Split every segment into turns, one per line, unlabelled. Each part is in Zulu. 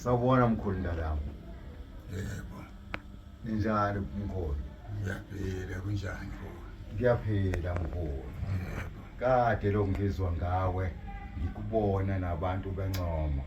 Sawubona mkhulu mntanami. Yebo. Ninjani mkhulu? Ngiyaphila
kunjani mkhulu? Ngiyaphila
mkhulu. Yebo.
Kade lo
ngizwa ngawe ngikubona nabantu bencoma.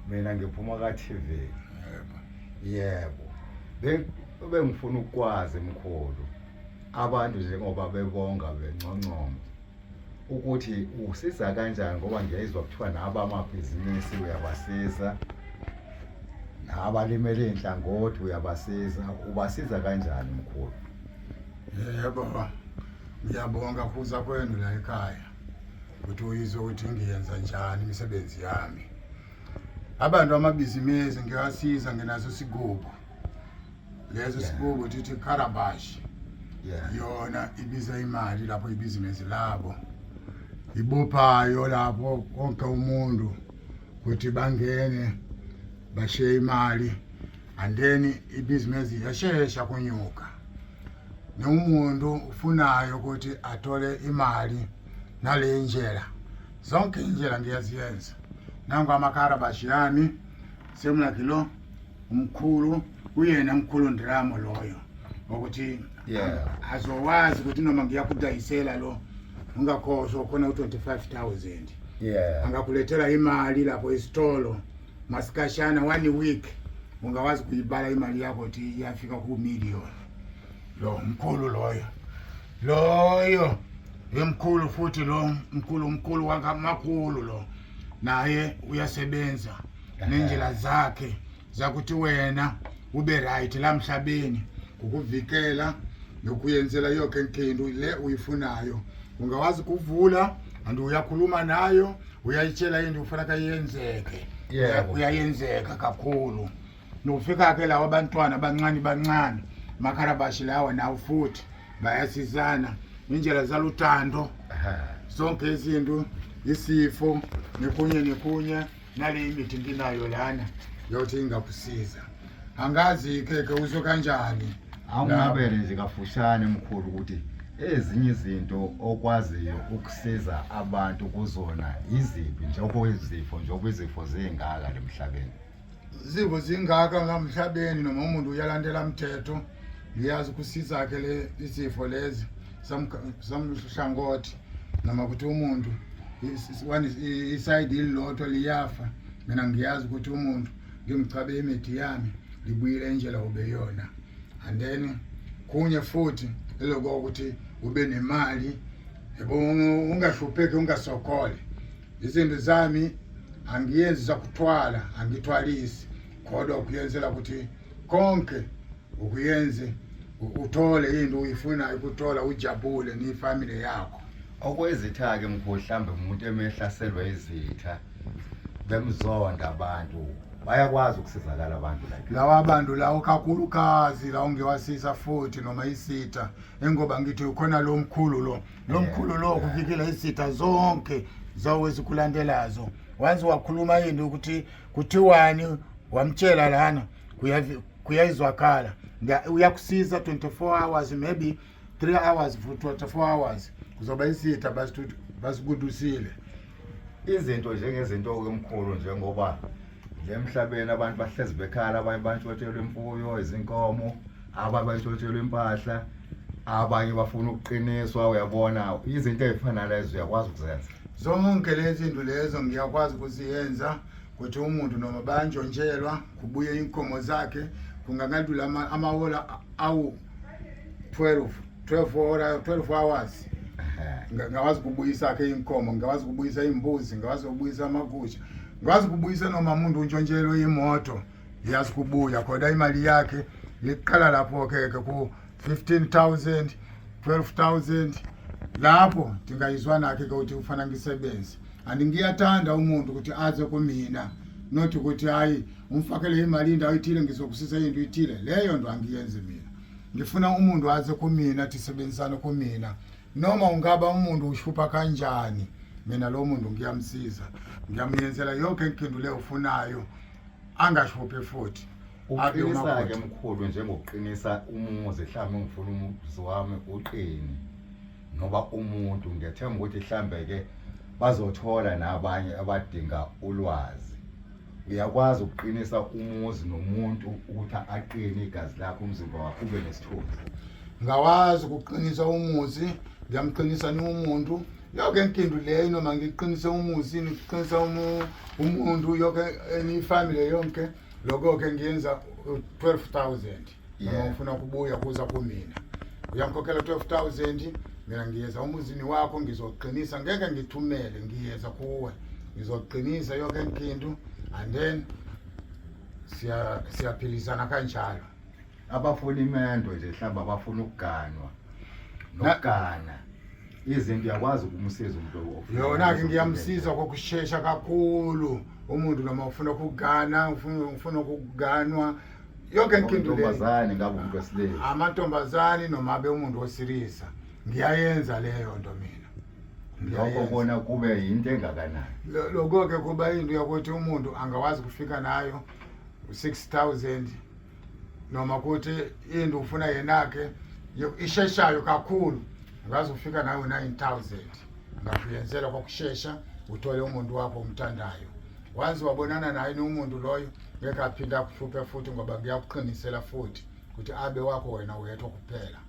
Mina ngiphuma ka TV. Yebo.
Yebo.
Bengifuna ukwazi mkhulu. Abantu njengoba bebonga benconcoma. ukuthi usiza kanjani ngoba ngiyayizwa kuthiwa nabo amabhizinisi uyabasiza nabalimele inhlangothi uyabasiza ubasiza kanjani mkhulu yebo
ngiyabonga kuza kwenu la ekhaya ukuthi uyizwe ukuthi ngiyenza njani imisebenzi yami abantu amabhizinisi ngiyasiza ngenaso sigugu lezi sibuko thithi carabash yona ibiza imali lapho ibhizinesi labo ibophayo lapho konke umuntu ukuthi bangene bashiye imali and then ibhizinesi yashesha kunyuka nomuntu ufunayo ukuthi athole imali nale ndlela zonke indlela ngiyaziyenza nangu amakarabashi yami semlakilo umkhulu uyena mkhulu ndiramo loyo ukuthi yeah. azowazi ukuthi noma ngiyakudayisela lo ungakhohlwa khona u-25 000 yeah. angakulethela imali lapho isitolo masikashana one week ungawazi kuyibala imali yakho ukuthi iyafika kumillion lo mkhulu loyo loyo emkhulu futhi lo mkhulu mkhulu wakamakhulu lo naye uyasebenza nendlela zakhe zakuthi wena ube right la mhlabeni ngokuvikela nokuyenzela yonke inkinto le uyifunayo ungawazi kuvula and uyakhuluma nayo uyayitshela into ufuna kayenzeke yebo uyayenzeka kakhulu nofika ke lawa abantwana abancane bancane makharabashi lawa nawo futhi bayasizana indlela zaluthando zonke izinto isifo nekunye nekunye nale imithi nginayo lana yothi ingakusiza angazi keke uso kanjani awungabele
nje kafushane mkhulu ukuthi ezinye izinto okwaziyo ukusiza abantu kuzona iziphi njengoba izifo njengoba izifo zingaka lemhlabeni izifo
zingaka ngamhlabeni noma umuntu uyalandela mthetho ngiyazi kusizakhe le izifo lezi samhlangothi noma ukuthi umuntu isayidi ililodwa liyafa mina ngiyazi ukuthi umuntu ngimchabe imithi yami libuyile indlela ubeyona and then kunye futhi eloko ukuthi ube nemali yebo ungahlupheki ungasokole izinto zami angiyenzi zakuthwala angithwalisi kodwa ukuyenzela ukuthi konke ukuyenze uthole into uyifunayo ukuthola ujabule nefamily yakho okwezitha-ke
mkhulu mhlawumbe umuntu emehlaselwa izitha bemzonda abantu bayakwazi ukusizakala abantu like lawa abantu lawo
kakhulukazi lawo ngewasisa futhi noma isitha engoba ngithi ukhona lo mkhulu lo lo mkhulu lo kuvikela isitha zonke zawo ezikulandelazo once wakhuluma yini ukuthi kuthiwani wamtshela lana kuyayizwakhala uyakusiza 24 hours maybe 3 hours for 24 hours kuzoba isitha basikudusile
izinto njengezinto-ke mkhulu njengoba emhlabeni abantu bahlezi bekhala abanye abantu batshelwe imfuyo izinkomo abanye bantshontshelwa impahla abanye bafuna ukuqiniswa uyabona izinto ezifana lezo uyakwazi ukuzenza zonke lezi
zinto lezo ngiyakwazi ukuziyenza ukuthi umuntu noma bayantshontshelwa kubuye inkomo zakhe kungakalula amawola awu 12 12 hora 12 hours ngingakwazi ukubuyisa akhe inkomo ngingakwazi ukubuyisa imbuzi ngingakwazi ukubuyisa amakusha ngikwazi ukubuyisa noma umuntu untshontshelwe imoto Yazi kubuya khona imali yakhe liqala lapho ke ke ku 15000 12000 lapho ndingayizwa nakhe ke ukuthi ufana ngisebenze and ngiyathanda umuntu ukuthi aze kumina not ukuthi hayi umfakele imali indawo ithile ngizokusisa into ithile leyo nto angiyenzi mina ngifuna umuntu aze kumina athi sebenzisane kumina noma ungaba umuntu ushupha kanjani mina lo muntu ngiyamsiza ngiyamyenzela yonke engiphendule ufunayo angashuphi futhi uqinisa-ke
mkhulu njengokuqinisa umuzi mhlawumbe ngifuna umuzi wami uqini noba umuntu ngethemba ukuthi mhlawumbe-ke bazothola nabanye abadinga ulwazi uyakwazi ukuqinisa umuzi nomuntu ukuthi aqine igazi lakho umzimba wakho ube nesithunzi ngawazi
ukuqinisa umuzi ngiyamqinisa ni umuntu yoke inkindu leyo noma ngiqinise umuzi ngiqinisa umuntu yoke eniyifamile yonke lokho-ke ngiyenza 12 000 yeah. ufuna kubuya kuza kumina uyangikhokhela 12000 mina ngiyeza umuzini wakho ngizoqinisa ngeke ngithumele ngiyeza kuwe ngizoqinisa yonke inkinto and then siya siyaphilisana kanjalo abafuna
imendo nje hlamba abafuna ukuganwa nokugana izinto uyakwazi ukumsiza umuntu yona-ke ngiyamsiza
kokushesha kakhulu umuntu noma ufuna ukugana ufuna ukuganwa yonke inkintombazane ngabe umuntu wesilisa
amantombazane
noma abe umuntu wesilisa ngiyayenza leyo nto mina lokho
kona kube yinto engakanani lokho-ke kuba
into yokuthi umuntu angakwazi kufika nayo u-six thousand noma kuthi into ufuna yenakhe isheshayo kakhulu ngaze ufika nayo nine thousand ngakuyenzela kwakushesha uthole umuntu wakho omthandayo once wabonana naye nomuntu loyo ngeke aphinde akuhluphe futhi ngoba ngiyakuqinisela futhi ukuthi abe wakho wena wedwa kuphela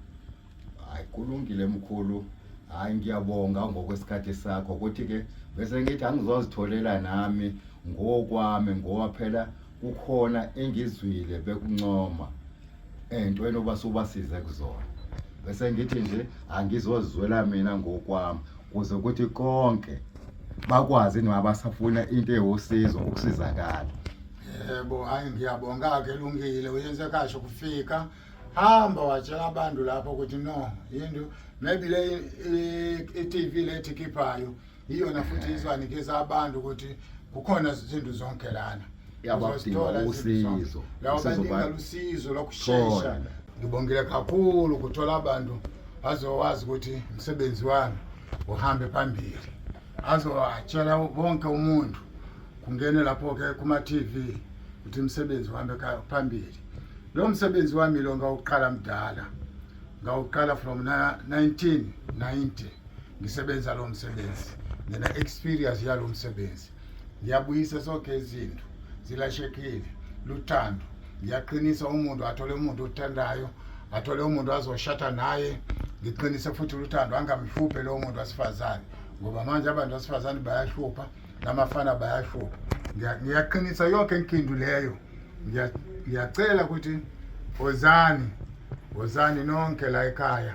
hayi
kulungile mkhulu hayi ngiyabonga ngokwesikhathi sakho kuthi-ke bese ngithi angizozitholela nami ngokwami ngoba phela kukhona engizwile bekuncoma entweni oba subasize kuzona bese ngithi nje angizozizwela mina ngokwami kuze kuthi konke bakwazi noma basafuna into ewusizo ukusizakala yebo
hayi ngiyabonga ke lungile uyenze kasho kufika hamba watshela abantu lapho ukuthi no yinto maybe le i-TV lethi khiphayo iyona futhi izwanikeza abantu ukuthi kukhona izinto zonke lana yabadinga
usizo lawo badinga
lusizo lokushesha ngibongile kakhulu ukuthola abantu azowazi ukuthi umsebenzi wami uhambe phambili azowatshela wonke umuntu kungene lapho-ke kuma-tv ukuthi umsebenzi uhambe phambili lo msebenzi wami lo ngawuqala mdala ngawuqala from 1990 ngisebenza lo msebenzi ngina experience yalo msebenzi ngiyabuyisa sonke izinto zilashekile luthando ngiyaqinisa umuntu athole umuntu othandayo athole umuntu azoshata naye ngiqinise futhi luthando angamhluphe lowo muntu wasifazane ngoba manje abantu basifazane bayahlupha namafana bayahlupha ngiyaqinisa yonke inkindu leyo ngiyacela ukuthi wozani wozani nonke la ekhaya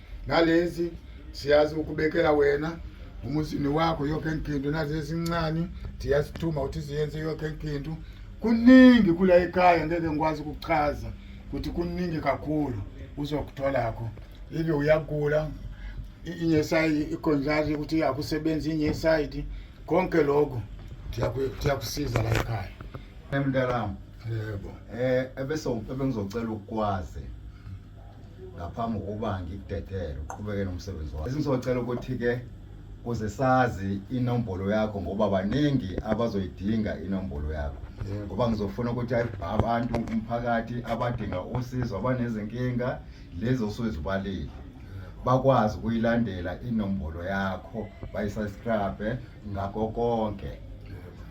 nalezi siyazi ukubekela wena umuzini wakho yonke nkinto nazi ezincane siyasithuma ukuthi siyenze yonke nkinto kuningi kula ekhaya ngeke ngikwazi ukuchaza ukuthi kuningi kakhulu uzokutholakho ibe uyagula inye side ikhonjari ukuthi akusebenzi inye side konke lokho siyakusiza la ekhaya emntanami
yebo
um ebese
ngizocela ukukwazi ngaphambi kokuba ngikudedele uqhubeke nomsebenzi wakho esingizocela ukuthi-ke kuze sazi inombolo yakho ngoba baningi abazoyidinga inombolo yakho ngoba ngizofuna ukuthi abantu umphakathi abadinga usizo abanezinkinga lezi osuzibalile bakwazi ukuyilandela inombolo yakho bayisubscribe ngakho konke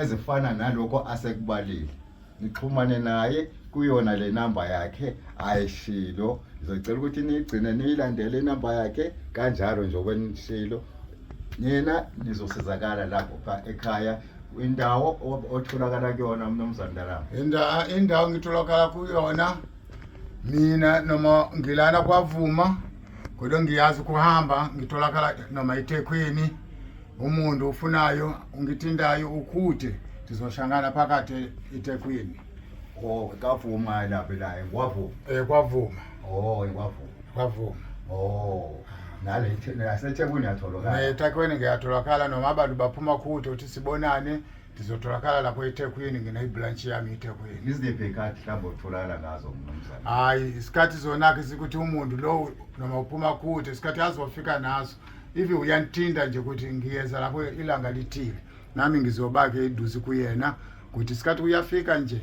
ezifana nalokho asekubalile nixhumane naye kuyona le namba yakhe ayishilo ngizocela ukuthi niyigcine niyilandele inamba yakhe kanjalo nje okwenishilo nina nizosizakala lapho ekhaya indawo otholakala kuyona mnumzane ndarama indawo indawo ngitholakala
kuyona mina noma ngilana kwavuma kodwa ngiyazi kuhamba ngitholakala noma ithekhweni umuntu ufunayo ungithintayo ukhuthe ndizoshangana phakathi ethekwini o oh,
kavuma lapho laye kwavuma um kwavuma
o oh, kwavuma
kwavuma
o oh,
nasethekwini yatholakala ethekwini ngiyatholakala
noma abantu baphuma khuthe ukuthi sibonane ndizotholakala lapho ethekwini ngineyibranshi yami ethekwini iziphi ikhathi mhlawumbe
otholakala ngazo mnumzane hhayi isikhathi
zona-ke sikuthi umuntu lowo noma uphuma kude isikhathi azofika naso ivi uyanthinta nje ukuthi ngiyeza lapho ilanga lithile nami ngizobake eduze kuyena ukuthi isikhathi uyafika nje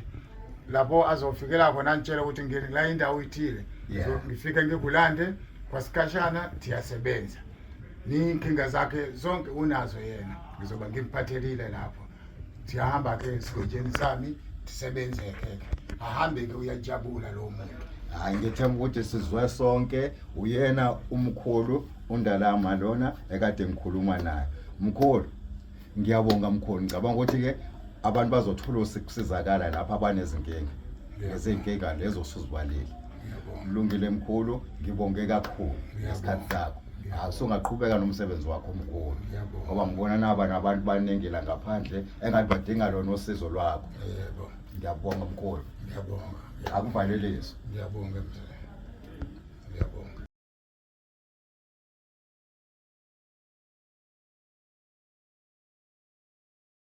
lapho azofikela khona ngitshela ukuthi ngiyeni la indawo ithile ngifike ngikulande kwasikhashana thiyasebenza ninkinga zakhe zonke unazo yena ngizoba ngimphathelile lapho siyahamba ke esigodleni sami ndisebenzeke ahambe ke uyajabula lo muntu hayi ngethemba ukuthi
sizwe sonke uyena umkhulu undalama lona ekade ngikhuluma naye mkhulu ngiyabonga mkhulu ngicabanga ukuthi-ke abantu bazothola ukusizakala lapho abanezinkinga nezinkinga lezo suzibalile Mlungile mkhulu, ngibonge kakhulu ngesikhathi sakho. Asungaqhubeka nomsebenzi wakho mkhulu. Ngoba ngibona naba nabantu baningi la ngaphandle engathi badinga lona usizo lwakho. Yebo. Ngiyabonga
mkhulu.
Ngiyabonga.
Akuvalelise. Ngiyabonga mzee.